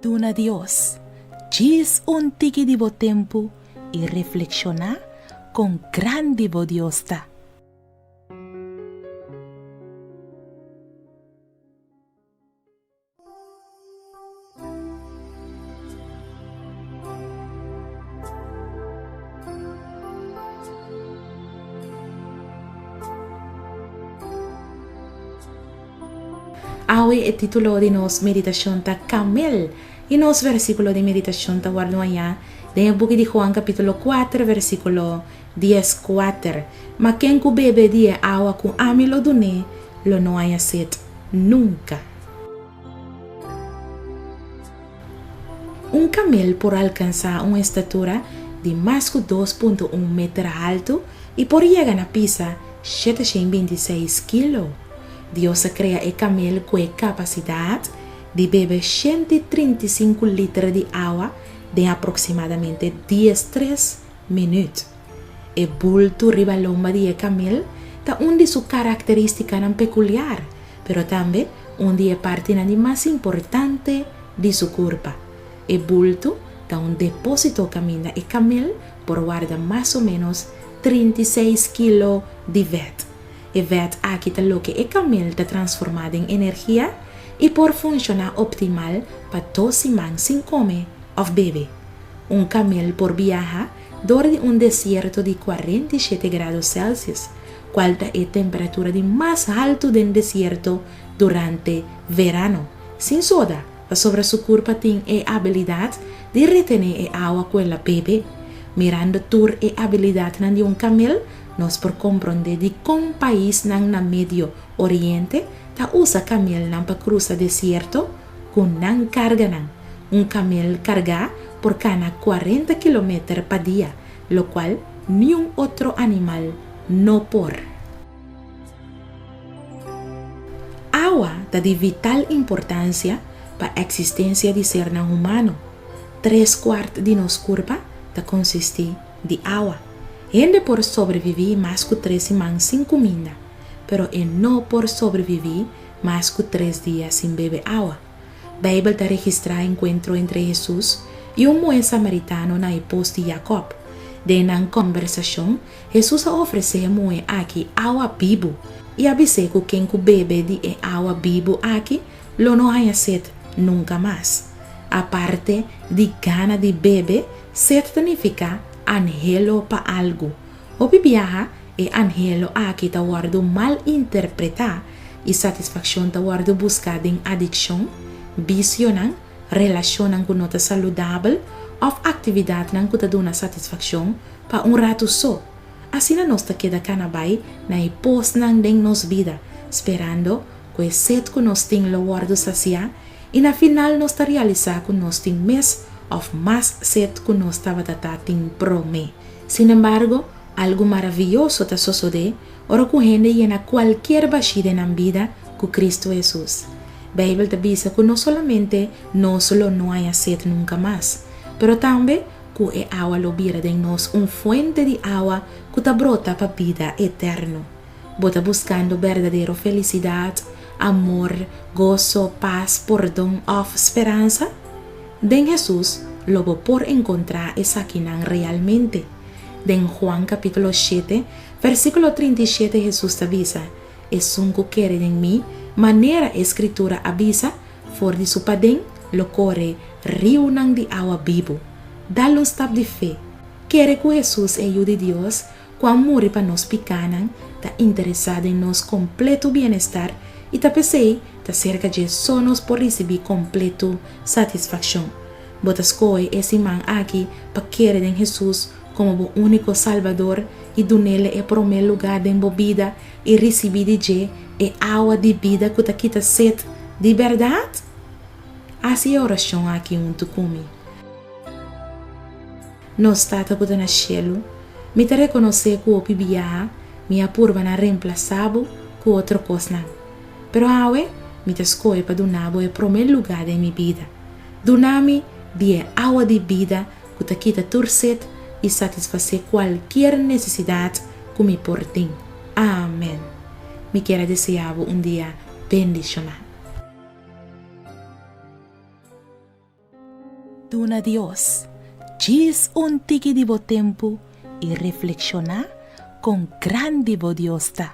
Duna Dios djis un tiki di bo tempu i reflekshoná kon grandi bo Dios ta. Awe e titulo di nos meditashon ta Kamel, i nos vèrsikulo di meditashon ta wordu hañá den e buki di Juan kapítulo kuater vèrsikulo. Di e squatter, Ma ken cu bebe di e awa cu ami lo dun'e, lo no haña set nunca. Un camel por alcansa un estatura di mas cu dos punto un meter haltu y por yega na pisa shete shen binti seis kilo. Dios a crea e camel cu e capacidad di bebe shent i trinta i sinku liter di awa den aproximadamente dies tres Minuut. E bultu riba lomba di e kamel ta un di su karakterístikanan pekuliar, pero tambe un di e partinan di mas importante di su kurpa. E bultu ta un depósito kaminda e kamel por warda mas o ménos trinta i seis kilo di vèt. E vèt aki ta loke e kamel ta transformá den energia i por funshoná optimal pa dos siman sin kome òf bebe. Un kamel por biaha dor di un desierto di kuarenta i shete grado Celsius, kual ta e temperatura di mas haltu den desierto durante verano. Sin soda, pasobra su kurpa tin e abilidat di retené e awa ku el a bebe. Mirando tur e abilidatnan di un kamel, nos por komprondé dikon paisnan na Medio Oriente ta usa kamelnan pa krusa desierto. Ku nan karganan, un kamel kargá por kana kuarenta kilometer pa dia, lokual niun otro animal no por. Awa ta di vital importansia pa eksistensia di sernan humano. Tres kuart di nos kurpa ta konsistí di awa. Hende por sobreviví mas ku tres siman sin kuminda, pero e no por sobreviví mas ku tres dia sin bebe awa. Beibel ta registrá enkuentro entre Hesus i un muhé samaritano na e pos di Yakòb. Den nan kòmbersashon, Hesus a ofresé e muhé akí awa bibu i a bis'é ku ken ku bebe di e awa bibu akí lo no haña set nunka mas. Aparte di gana di bebe, set ta nifiká anhelo pa algu. Hopi biaha e anhelo aki ta wòrdu mal interpretá i satisfakshon ta wòrdu buska den adikshon, bisionan, relashonnan ku no ta saludabel òf aktividatnan ku ta duna satisfakshon pa un ratu so. Asina nos ta keda kana bai na e posnan den nos bida, sperando ku e set ku nos tin lo wòrdu sasiá i na final nos ta realisá ku nos tin mes òf mas set ku nos tabata ta tin promé. Sin embargo, algu maraviyoso ta sosodé ora ku hende yena kualkier bashí den nan bida ku Kristu Hesus. Beibel ta bisa ku no solamente nos lo no haña set nunka mas, pero tambe ku e awa lo bira den nos un fuente di awa ku ta brota pa bida eterno. Bo ta buskando berdadero felisidat, amor, goso, pas, pordon òf speransa? Den Hesus lo bo por encontra esakinan realmente. Den Juan capitulo shete, versiculo trinta i shete Hesus ta bisa, Esun cu kere den mi, manera e scritura a bisa, for di su paden lo core riunan di awa bibu. Da lustap di fe. Kere cu Hesus e Yu di Dios ku a muri pa nos pikánan, ta interesá den nos kompletu bienestar i ta p'esei ta serka dje so nos por risibí kompletu satisfakshon. Bo ta skohe e siman aki pa kere den Hesus komo bo úniko Salbador i dun'El e promé lugá den bo bida i risibí di dje e awa di bida ku ta kita set di bèrdat? Hasi e orashon aki huntu ku mi. Nos Tata ku ta na shelu, mi ta rekonosé ku hopi biaha mi a purba na remplasá bo ku otro kosnan. Pero awe mi ta skohe pa duna bo e promé lugá den mi bida. Duna mi di e awa di bida ku ta kita tur set i satisfasé kualkier nesesidat ku mi por tin. Amèn. Mi kier a deseá bo un dia bendishoná. Duna Dios djis un tiki di bo tempu i reflekshoná kon grandi bo Dios ta.